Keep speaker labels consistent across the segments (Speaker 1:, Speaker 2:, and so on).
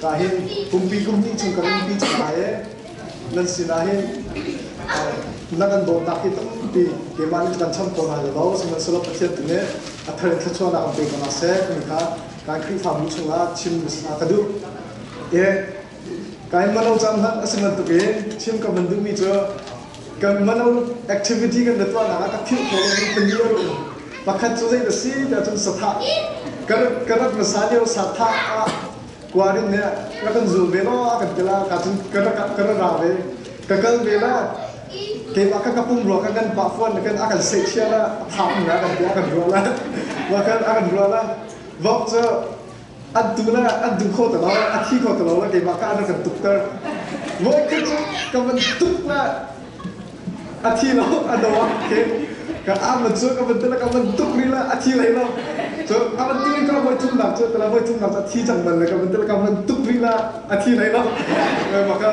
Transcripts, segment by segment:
Speaker 1: Ka hin kumpi kumhnih chung kan umpi cang hna i nan sinah hin na kan dawtnak hi tampi keimah nih kan cham ko hna lo sihmanhsehlaw Pathian tu nih a thar in thluachuahnak kan pe ko hna seh timi kha kan Khrihfabu chungah chim ah ka duh. Ka in mano cang hlah a si bantuk in chim ka van duhmi cu kan mano activity kan le tuahnak ah ka philh khawh lomi pali a um pakhat cu zei na si ti ahcun sathah ka rat ka rat hmasa lio sathah ah kuarin he rak kan zul ve la kan ti la ka cun ka rak ka ra ra ve ka kal ve la keimah ka kapung ruwa ka kan pa fuan kan a kan se chia la thap na kan ti a kan ruwa la wa kan a kan ruwa la vok cu an tuna an duh kho tilo a thi kho tilo la keimah ka na kan tukter voikhat cu ka van tuk na a thi lo a do ah ke ka aman cu ka van tala ka van tuk ri la a thi lai lo so a van tili ka voi thum nak cu tala voi thum nak cu a thi cang man le ka van tala ka van tuk ri la a thi lai lo maka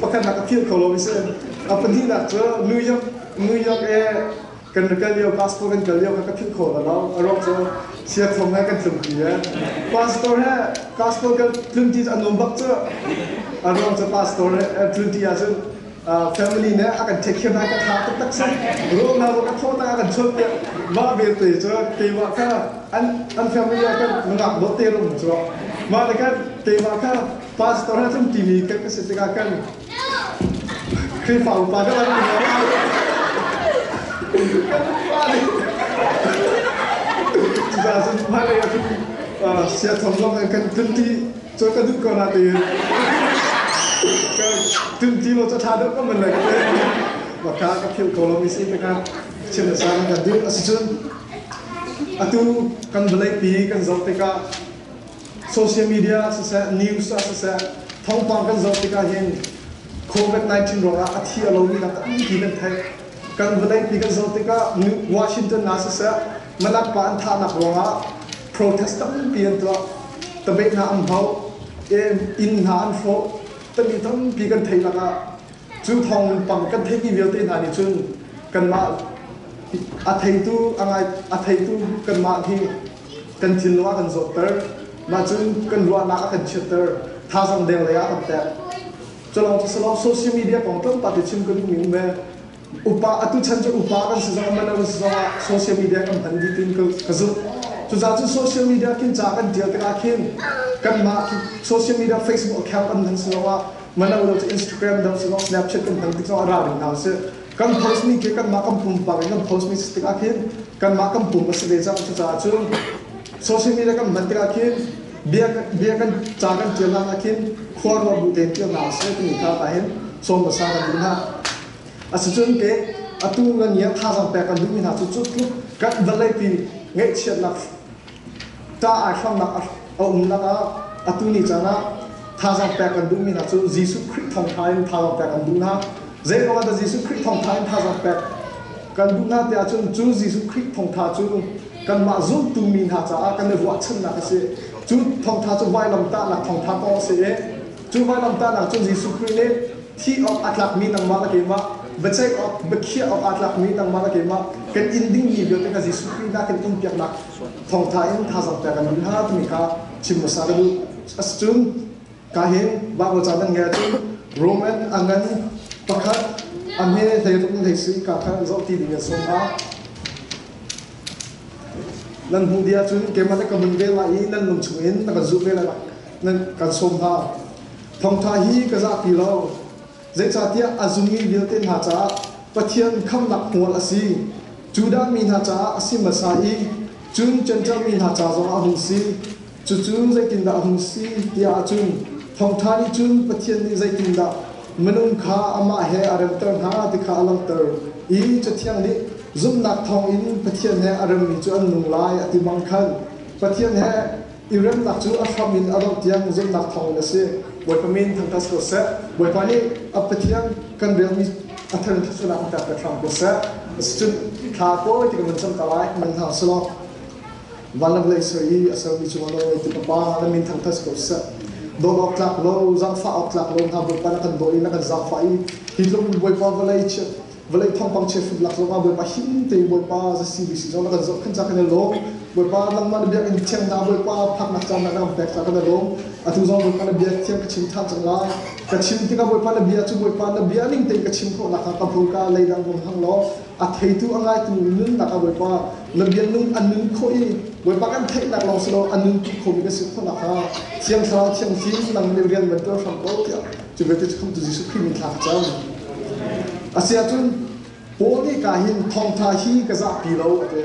Speaker 1: pakhat nak a thi kho lo mi se a pahnih nak cu New York New York e kan kal lio passport kan kal lio ka philh khawh bal lo a ruak cu siakthong he kan tlung pi e passport he passport kan tlun ti an um bak cu a ruang cu passport he tlun ti ahcun family nih a kan check hiam hai ka tha taktak sum ruak na ruak ka tho ta kan chot piak ma ve te cu te wa kha an an family ah kan nungak bo te rung cu ma le kan te wa kha passport he tlun ti mi kan ka se tikah kan Khrihfa upa ka van um ruangah kan upa nih tiza sun hmailei a kan sia thong zong in kan tunti cu ka duh ko na tiin ka tunti lo cu tha deuh ka man lai ka te ma ka ka phil ko lo mi si tangah thil a sang kan duh asicun atu kan vawlei pi kan zoh tikah social media ah siseh news ah siseh thawngpang kan zoh tikah hin covid-19 ruangah a thi a lomi lam tampi kan theih kan vawleipi kan zoh tikah washington ah siseh manakpa an thahnak ruangah protest tampi an tuah tabe hna an hau inn hna an hrawh tami tampi kan theih lakah cu thawng lungpang kan theihmi vialte hna nih cun kanmah a theitu a ngaitu kanmah hi kan thinlung ah kan zawhter. Mah cun kan ruahnak a kan chiatter. Thazaang deng lei ah kan teh. Culawng cu salawng social media kong tlawmpal te chim kan hung um ve. Upa atu chan cu upa kan si zong man kan si zong ah social media kan hman dih tin ka, ka zumh. Cucaah cu social media khin ca kan tial tikah khin kan mah social media Facebook account an hman si zong ah mana lo cu Instagram dang si zong Snapchat kan hman tik zong ah ra ding hna sih. Kan post nih khi kanmah kan pumpak in kan post mi si tikah khin kanmah kan pum a si ve cang cucaah cun social media kan hman tikah khin bia bia kan ca kan ṭialnak ah khin khuaruah bu te ṭialnak a si timi kha ta hin sawm hmasa kan duh hna asicun ke atu kan nia thazang pek kan duhmi hna cu cu tluk kan vawleipi ngeihchiatnak ṭah ai hramnak a um lakah atu ni caan ah thazaang pek kan duhmi hna cu Jesuh Khrih thawngṭha in thazaang pek an duh hna. Zeiruangah dah Jesuh Khrih thawngṭha in thazaang pek kan duh hna tiah cun cu Jesuh Khrih thawngṭha cu kanmah zumtu mi hna caah kan i ruahchannak a si. Cu thawngṭha cu vailamtahnak thawngṭha kong a si i Cu vanamtahnak cun Jesuh Khrih nih thih awk aa tlakmi nangmah na keimah, biaceih awk, biakhiah awk aa tlakmi nangmah na keimah, kan in dingmi vialte kha Jesuh Khrih hna kan in piaknak thawngtha in thazaang pek an duh hna timi kha chim hmasa ka duh. Cun ka hin Baibal caan nan ngai ahcun Roman a ngan pakhat a hme hleirup in hleisui kaa kha zoh ti ding in sawm ah nan hmuh dih ahcun keimah na ka hmun ve lai i nan lung chung in na kan zulh ve lai ka sawm hna. Thawngtha hi ka zahpi lo. Zeicahtiah a zummi vialte hna caah Pathian khamhnak hmual a si. Judah mi hna caah a si hmasa i cun Jentail mi hna ca zongah a hung si. Cucu zeitindah a hung si ti ahcun Thawngtha nih cun Pathian nih zeitindah minung kha amah he a remter hna ti kha a langhter i Cathiang nih zumhnak thawngin Pathian he a remmi cu an nung lai a ti bang khan Pathian he i remnak cu a hram in a dongh tiang zumhnak thawngin a si. Bawipa min thang kas ko seh. Bawipa nih a Pathian kan relmi a thar thasnak in pek hram ko seh. Asicun thla kawi ti kan van cam ka lai man hna selaw vanlanghlei soi i a sermi cungah nawlngei ti papa na min thang tas ko seh dawt awk tlak lo zaangfah awk tlak lo hna bawipa na kan dawi na kan zaangfah i hi tlung bawipa vawlei chia vawlei thawngpang chehhruh lak zongah Bawipa him tein Bawipa za CBC zong na kan zohkhenh ca kan i lawm Bawipa nangmah na biakinn thiang na Bawipa phaknak ca na kan pek ca kan i lawm atu zong Bawipa na bia thiang ka chim ṭhan cang lai ka chim tikah Bawipa na bia cu Bawipa na bia ning tein ka chim khawhnak hnga ka hmurka lei dang hmang hang law a theitu a ngaitu nunnak ah Bawipa na bia nun an nun khawh i Bawipa kan theihnak lawng si lo an nun tuk khomi kan si khawhnak hnga thiang thlarau thiang fim nang nih rian van tuan hram ko tiah Cu vialte cu Khamhtu Jesuh Khrih min thlak cang. A si ahcun Paul nih ka hin thawngtha hi ka zahpi lo a ti.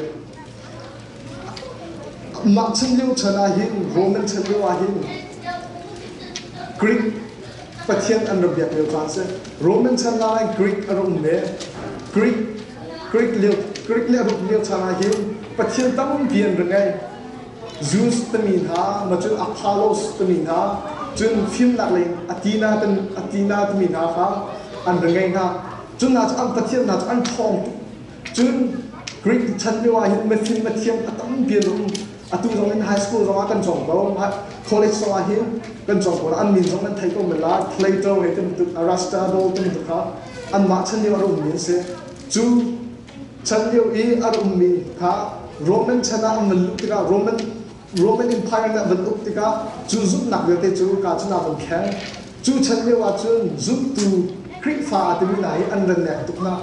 Speaker 1: Mah chim lio chan ah hin Rom nan chan lio ah hin Greek Pathian an ra biak lio caan si. Roman chan ah Greek a rum le Greek Greek lio Greek le Rum lio chan ah hin Pathian tampi an ra ngei. Zeus timi hna, na cu Apollos timi hna, cun fimnak lei in Athena timi hna kha an va ngeih hna. Cun hna cu an pathian hna cu an ṭhawng tuk. Cun Greek chan lio ah hin mifim mithiang a tam piin um. Atu zong in high school zongah kan cawng ko, college zongah hin kan cawng ko. An min zong nan thei ko men lai. Plato hei ti bantuk, Aristotele ti bantuk kha anmah chan lio a rummi an si. Cu Chan lio i an ummi kha Roman chan ah an van luh tikah Roman Roman Empire nih an van uk tikah cu zumhnak vialte cu ka cun a van thleng. Cu chan lio ahcun zumtu Khrihfa timi hna hi an ran nek tuk na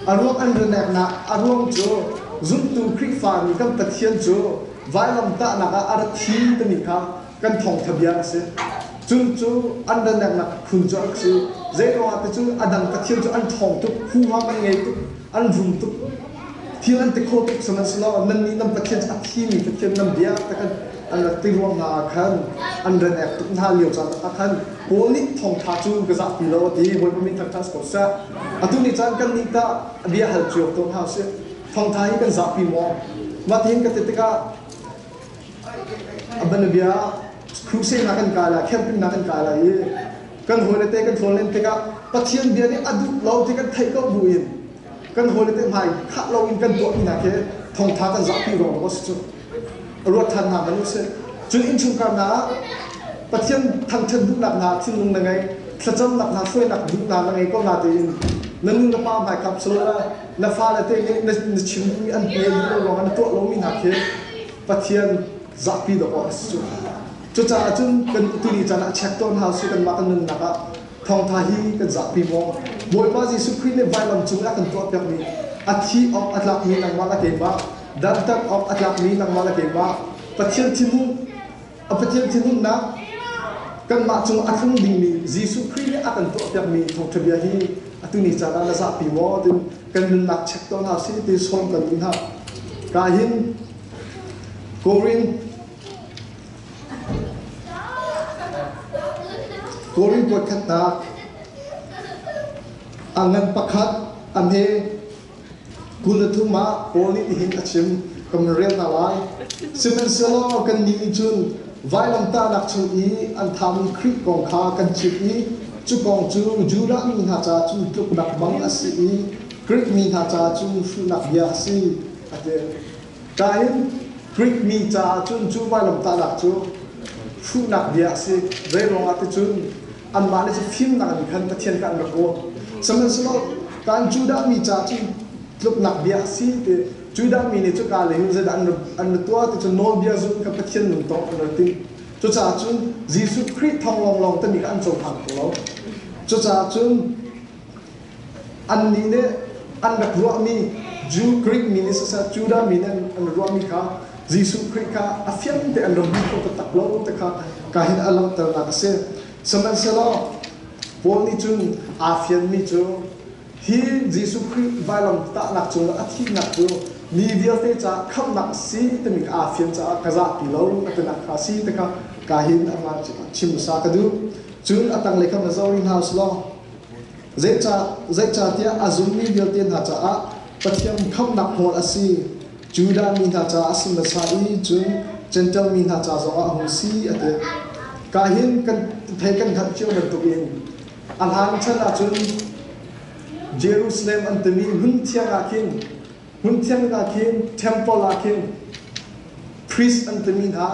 Speaker 1: a ruang an ran nek na a ruang cu zumtu Khrihfa nih kan Pathian cu vailamtahnak ah a rat hi timi kha kan thawngtha bia a si. Cun cu an daneknak phun cu an si. Zeiruangah ticu a dang pathian cu an ṭhawng tuk, huham an ngei tuk, an rum tuk, thil an ti kho tuk chung an si lo. Nannih nan pathian cu a thimi pathian nan bia ta kan an rak ti rua hna ah khan an ran ek tuk hna lio caan ah khan Paul nih thawngṭha cu ka zah ti lo a ti. Hawipa min kha ṭhas ko seh. Atu ni caan kannih tah a bia hal cio ko hna usih. Thawngṭha hi kan zahpi maw? Mah ti hin ka ti tikah A banabia crusade kan kai lai, camping kan kai lai i kan hawile te kan hlawn len tikah Pathian bia nih a duh lo ti kan theih ko bu in kan hawile te hmai khah lo in kan tuahmi hna khi thongtha kan zahpi ruang ruang a si cu ruat than hna man usih cun innchungkar hna Pathian thangthat duhnak hna thinlung na ngei thlacamnak hna hruainak duh hna na ngei ko na tein na nu na pa hmai kap so na fale te nih na chim duhmi an pe duh lo ruang na tuah lomi hna khi Pathian zahpi dawk awk a si cu. Cucaah cun kan utili caan ah check tawn hau sih kanmah kan nunnak ah thawngtha hi kan zahpi maw? Bawipa Jesuh Khrih nih vailam cung i a kan tuahpiakmi a thih awk a tlakmi nangmah le keimah, dantat awk a tlakmi nangmah le keimah, Pathian thinhung A Pathian thinhunnak kanmah cung a tlung dingmi Jesuh Khrih nih a kan tuahpiakmi thawngṭhabia hi atu ni caan ah na zahpi maw? Tiin kan nunnak check tawn hna sih ti sawm kan duh hna. Ka hin Korin Korin puat khatnak a ngan pakhat a hme Kum le thum ah Paul nih hihin a chim, ka min rel hna lai. Sihmanhsehlaw kannih nih cun vailamtahnak chung i an thami Khrih kong kha kan chimh i cu kong cu Judah mi hna ca cu tluknak bang a si i Grik mi hna ca cu hruhnak bia a si, a ti. Ṭah in Grik mi caah cun cu vailamtahnak cu hruhnak bia a si. Zei ruangah ticun anmah nih cu fimnak in khan Pathian kha an rak ruah sihmanhsehlaw kan Judah mi ca cu tluknak bia a si ti Judah mi nih cuka lei in zeidah an ra tuah ti cu nawlbia zul in kha Pathian nun tawk an ra tim cucaah cun Jesuh Khrih thawng lawnglawng timi kha an cohlang kho lo cucaah cun Annih nih an rak ruahmi Jew, Greek mi nih siseh Judah mi nih an ruahmi kha Jesuh Khrih kha a fiangte an rak hmu kho taktak lo ti kha ka hin a langhternak a si. Sihmanhsehlaw Paul nih cun aa fianmi cu hi Jesuh Khrih vailam tahnak cungah a thihnak cu mi vialte caah khamhnak a si timi ka aa fian caah ka zahpi lo a tinak kha a si ti kha ka hin a hmaan chim hmasa ka duh. Cun a tanglei kha va zoh rih hna u sih law Zeicahtiah a zummi vialte hna caah Pathian khamhnak hmual a si, Judah mi hna caah a si hmasa i cun Jentail mi hna ca zongah a hung si, a ti. Ka hin kan thei kan hngalh cio bantukin a hlan chan ahcun Jerusalem an timi hmun thiang ah khin Hmun thianghlim ah khin, temple ah khin priest an timi hna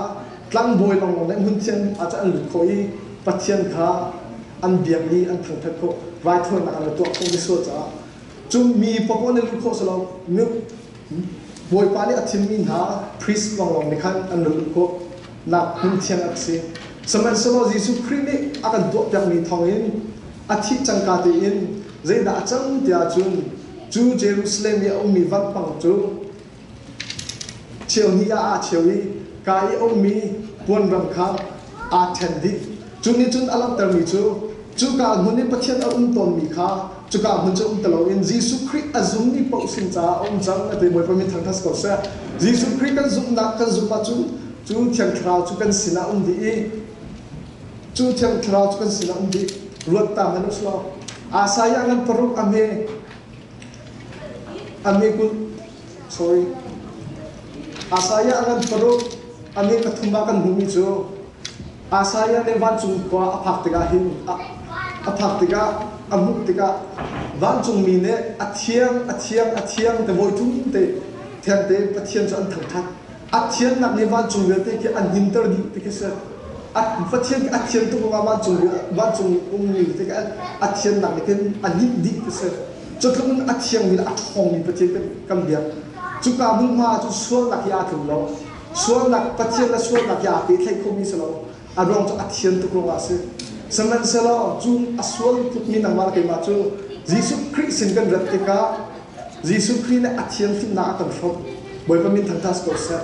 Speaker 1: tlangbawi lawnglawng nih hmun thianghlim ah cun an lut khawh i Pathian kha an biak i an thangthat khawh, raithawinak an tuah khawh misual caah. Cung mi pakua nih lut khawh si lo, Bawipa nih a thimmi hna priest lawnglawng nih khan an lut khawh nak hmun thiang a si. Sihmanhsehlaw Jesuh Khrih nih a kan tuahpiakmi thawngin a thih cangka tein zeidah a cang ti ahcun Cu Jerusalem i a ummi vampang cu cheuhnih ah aa cheu i ka i ummi puanrang kha aa ṭhen dih. Cu nih cun a langhtermi cu cuka hmun i Pathian a um tawnmi kha cuka hmun cu um ti loin Jesuh Khrih a zummi paoh sin caah a um cang a ti. Bawipa mi thang hna si ko seh. Jesuh Khrih kan zumhnak kan zumh ahcun cu Thiang Thlarau cu kan sinah a um dih i Cu thiang thlarau cu kan sinah um dih. Ruattang an usuak. Asaiah ngan paruk a hme. A hme kul. Sorry. Asaiah ngan paruk. A hme pathum a kan hmuhmi cu Asaiah le vancung khua a phak tikah hin a phak tikah a hmuh tikah vancungmi nih a thiang a thiang a thiang te voi ṭum te thiang te Pathian cu an thangṭhat a thiannak nih vancung vialte khi an himter dih ti khi si va thian a thian tuk ruangah vancung vancung ummi vialte khi a thiannak nih khin a hnip dih ti si cu tluk in a thiangmi a ṭhawngmi pathian kan biak cuka hmunhma cu sualnak hi aa tlung lo sualnak pathian le sualnak hi aa pehtlaih khomi si lo a ruang cu a thian tuk ruangah a si. Sihmanhsehlaw cu a sual tukmi nangmah le keimah cu Jesuh Khrih sin kan rat tikah Jesuh Khrih nih a thianhlimnak a kan hrawmh. Bawipa min thangṭhat si ko seh.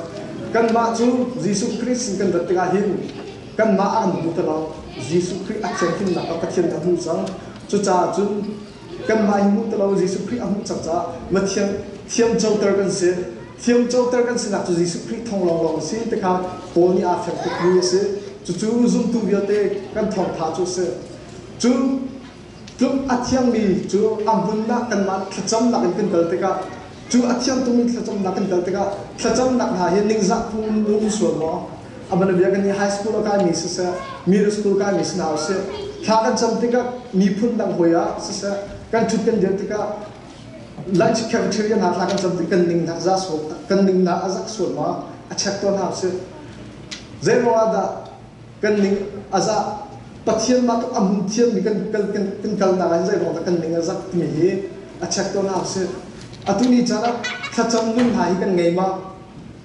Speaker 1: Kanmah cu Jesuh Khrih sin kan rat tikah hin kanmah a kan hmuhter lo. Jesuh Khrih a thianhlimnak kha Pathian nih a hmuh cang. Cucaah cun Kanmah hi hmuh tilo Jesuh Khrih a hmuh cang caah va thiam thiamcoter kan si. Thiamcoter kan sinak cu Jesuh Khrih thong lawnglawng a si ti kha Paul nih aa fiang tukmi a si. Cucu zumtu vialte kan thawngtha cu a si. Cu tluk a thiangmi cu a hmun ah kanmah thlacamnak in kan kal tikah cu a thiang tungmi thlacamnak kan kal tikah thlacamnak hna hi ningzah phung na um sual maw? amana bia kan ni high school a kai mi siseh middle school kai mi sinau si thla kan cham tikah miphun dang hoi ah siseh kan thut kan dir tikah lunch cafeteria na thla kan cham tik kan ning na za so kan ning na azak suat ma a check to na si zai ro ada kan ning aza pathian ma to am thiam mi kan kan kan kan kal na zai ro da kan ning azak ti hi a check to na si atuni chana thlacham nun ha hi kan ngei ma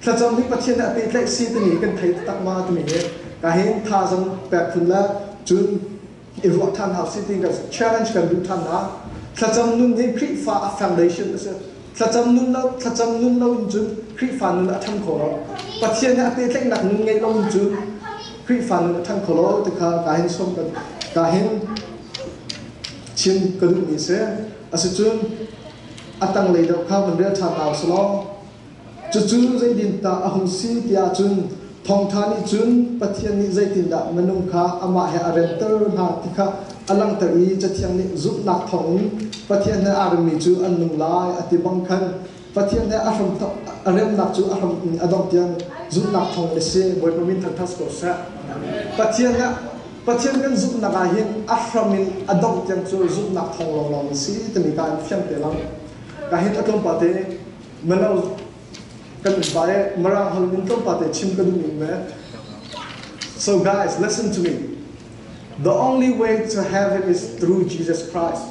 Speaker 1: Thlacam hi Pathian nih a pehtlaih si timi kan thei taktak ma timi hi ka hin tha zong pek phun le cun i ruah than hau si ti kan challenge kan duh than na thlacam nun hi Khrihfa a foundation a si thlacam nun lo thlacam nun lo in cun Khrihfa nun a thang kho lo Pathian nih a pehtlaihnak nun ngeih lo in cun Khrihfa nun a thang kho lo ti kha ka hin som kan ka hin chin ka duh mi si asicun a tanglei deuh kha kan rel than hau selaw Cucu zeidindah a hung si tiah cun thawngṭha nih cun Pathian nih zeitindah minung kha amah he a remter hna ti kha a langhter i Cathiang nih zumhnak thawngin Pathian he aa remmi cu an nung lai a ti bang khan Pathian he a, hram, a remnak cu a hram in a dongh tiang zumhnak thawngin a si. Bawipa min thangṭhat ko seh. Pathian he Pathian kan zumhnak ah hin a hram in a dongh tiang cu zumhnak thawng lawnglawng in si timi kha an fiang te lang. Ka hin a tlawmpal te Mano kan ba e mara hol min tom pa te chim ka duh me So guys listen to me The only way to heaven is through Jesus Christ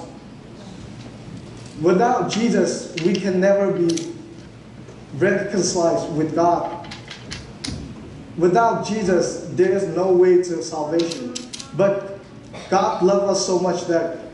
Speaker 1: Without Jesus we can never be reconciled with God Without Jesus there is no way to salvation but God loves us so much that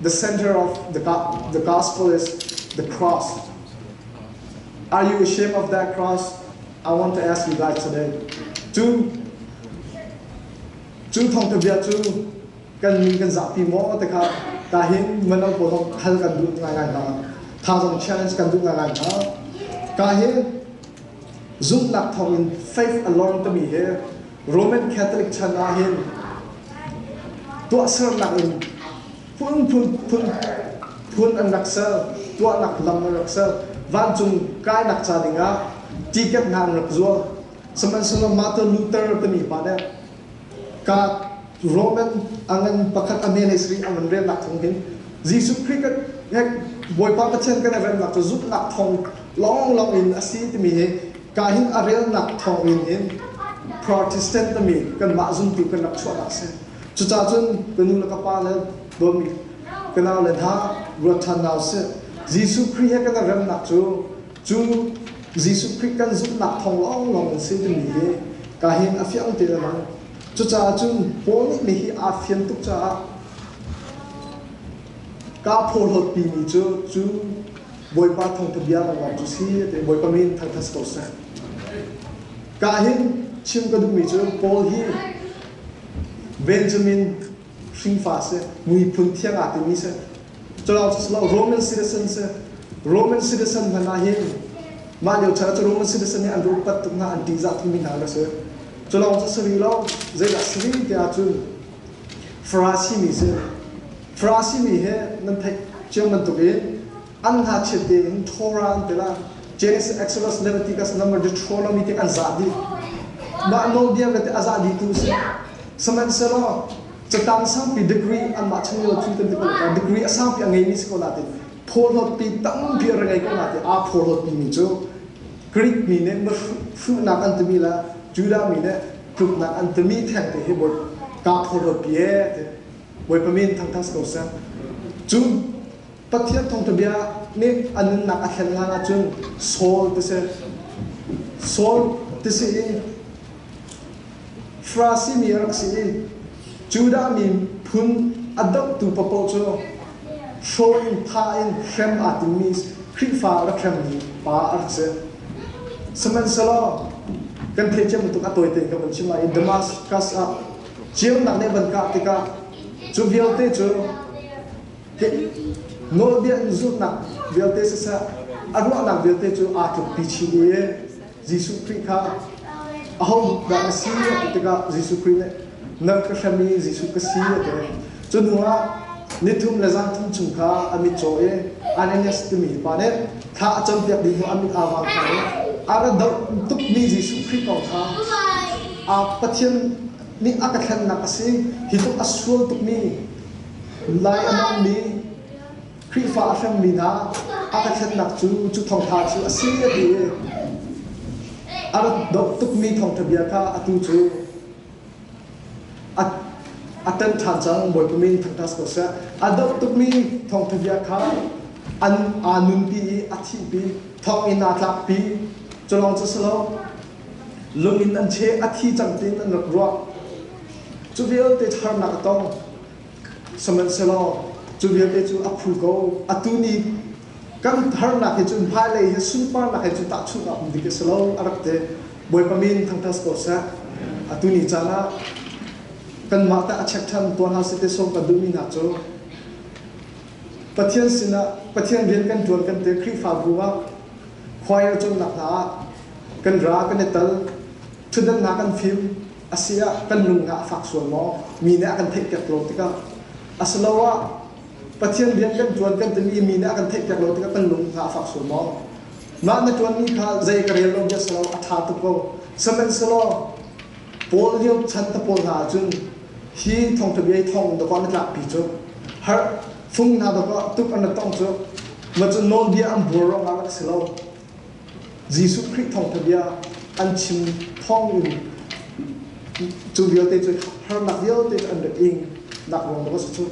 Speaker 1: The center of the, the gospel is the cross. Are you ashamed of that cross? I want to ask you that today. Cu cu thong bia cu kan min kan zapi mo te kha ta hin mano ko hong hal kan du ngai ngai ha tha zong challenge kan du ngai ngai ha ka hi zumnak thong in faith alone to me he Roman Catholic chan ah hin tuahsernak in phunphun phun phun an rak ser tuahnak lam an rak ser vancung kainak ca dingah tiket hna an rak zuar sihmanhsehlaw Martin Luther timi pa nih ka Roman angan pakhat a mele sari angan relnak thawng hin Jesuh Christ he Bawipa Pathian kan i remnak cu zumhnak thawng long long in a si timi hi Kahin a relnak thawngin in Protestant na mi kanmah zumtu kan rak chuahnak si. Cucah cun ka nu le ka pa le dawmi ka nau le hna ruat ṭhan nau si. Jesuh Khrih he kan i remnak cu cu Jesuh Khrih kan zumhnak thawng lawnglawng in si timi hi kahin a fiang te a lang. Cucaah cun Paul nih hihi aa fian tuk caah kaa phawhlawtpimi cu cu Bawipa thawngtha bia ka uang cu si ti Bawipa min thangthat ko seh. Ka hin chim ka duhmi cu Paul hi Benjamin hringfa si miphun thiang aa timi si culawng cu silo Roman citizen si Roman citizen hman ah hin mah lio chan cu Roman citizen nih an ruppat tuk hna an tihzah thumi hna ka si culawng cu sari lo zeidah sari te ahcun Farasi mi si. Farasi mi he nan theih ciam bantuk in an hna chiat in Tora an tila James Exodus Leviticus number Deuteronomy tik an za dih. Mah nawlbia vialte a za dih tu si. Sihmanhsehlaw catang sangpi degree an mah chang lo thil kan ti ko ka degree a sangpi a ngei mi si ko la ti phorhlot pi tampi a rangai ko la ti a phorhlot pi mi cu Greek mi nih fruhnak an timi la Judah mi nih Tluknak an timi thengte hi bawi ta khuaruat pi e ti bawipa min thangthas ko seh cu pathian thawngthabia nih a nunnak a thlen hlan ahcun Saul ti si Saul ti si i Frasi mi a rak si i Judah mi phun a dohtu papaw cu hraw in tha in hrem aa timmi Khrihfa rak hremmi pa a rak si. Sihmanhsehlaw kan theithiam tuk a tawi tein kan van chim ah i Damascus ah ceunak nih van kah tikah cu vialte cu nawlbia in zumhnak vialte siseh a ruahnak vialte cu aa tlukpi chin i Jesuh Khrih kha aho dah ka si a ti tikah Jesuh Khrih nih nang ka hrem i Jesuh ka si a ti. Cu hnuah ni thum le zan thum chung kha a mitcaw i Ananias timi pa nih thla a campiak dih hnu a mit aa vang kha nih a ra doh tukmi Jesuh Khrih kong kha aa Pathian nih a ka thlennak a si hi tluk a sual tukmi lai a dammi Khrihfa a hrangmi hna a ka thlennak cu cu thawngṭha cu a si a ti i a rat doh tukmi thawngṭha bia kha atu cu a a ṭan ṭhan cang Bawipa min thangṭas ko seh a doh tukmi thawngṭha bia kha an aa nunpi i a thihpi thawngin aa tlakpi cu lawng cu si lo lungin an cheh a thi cang tiin an rak ruah cu vialte harnak a tong Sihmanhsehlaw cu vialte cu a phu ko. Atu ni kan harnak hi cun hmailei hi sunparnak he cu tahchunhnak hmun dik a si lo, a rak ti. Bawipa min thangṭhat ko seh. Atu ni caan ah kanmah tah a check ṭhan tuah hna seh ti sawm kan duhmi hna cu Pathian sinah Pathian rian kan ṭuan kan ti Khrihfabu ah choir cawnnak hna ah kan ra kan i tel. Thutdannak kan fim a si ah kan lung hna a fak sual maw? Mi nih a kan theihpiak lo tikah asiloah Pathian rian kan ṭuan kan timi mi nih a kan theihpiak lo tikah kan lung hna a fak sual maw? Mah na ṭuanmi kha zei ka rel lo bia si lo a ṭha tuk ko. Sihmanhsehlaw Paul lio chan ta pawl hna ahcun hi thawngṭha bia i thawng dawkah na tlakpi cu har fung hna dawkah tuk an rak tong cu macun nawlbia an buar ruangah rak si lo Jesuh Khrih thawngtha bia an chim thawngin cu vialte cu harnak vialte cu an rak ing nak ruang tuk a si cu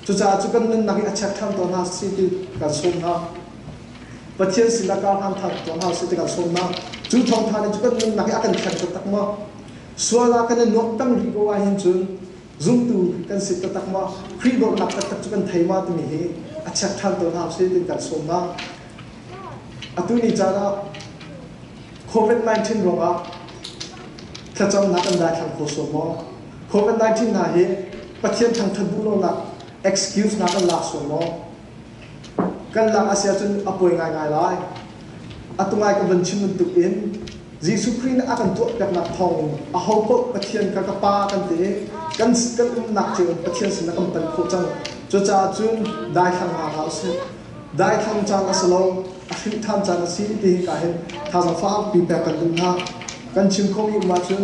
Speaker 1: cucaah cu kan nunnak hi a chiat ṭhan tawn hna si ti kan sawm hna Pathian sin ah kar hlan ṭhan tawn hna si ti kan sawm hna cu thawngtha nih cu kan nunnak hi a kan thlen taktak maw sual ah kan i nuamh peng rih ko ah hin cun Zumtu kan si taktak ma, Khrih dornak taktak cu kan thei ma timi hi a check ṭhan tawn hna usih tiin kan sawm hna. Atu ni caan ah COVID-19 ruangah thlacamnak kan daithlang kho sawm maw? COVID-19 hna hi Pathian thangṭhat duh lonak excuse hna kan lak sawm maw? Kan lak a si ahcun a puai ngaingai lai. Atu ngai ka vun chim bantuk in Jesuh Khrih nih a kan tuahpiaknak thawng ahopaoh Pathian kha ka Pa kan ti i kan kan umnak cio in Pathian sin ah kan panh khawh cang. Cucaah cun daithlanghnak ah usih. Daithlang caan a si lo, a hrinh ṭhan caan a si ti hika hin thazang fakpi pek kan duh hna. Kan chim khomi um ahcun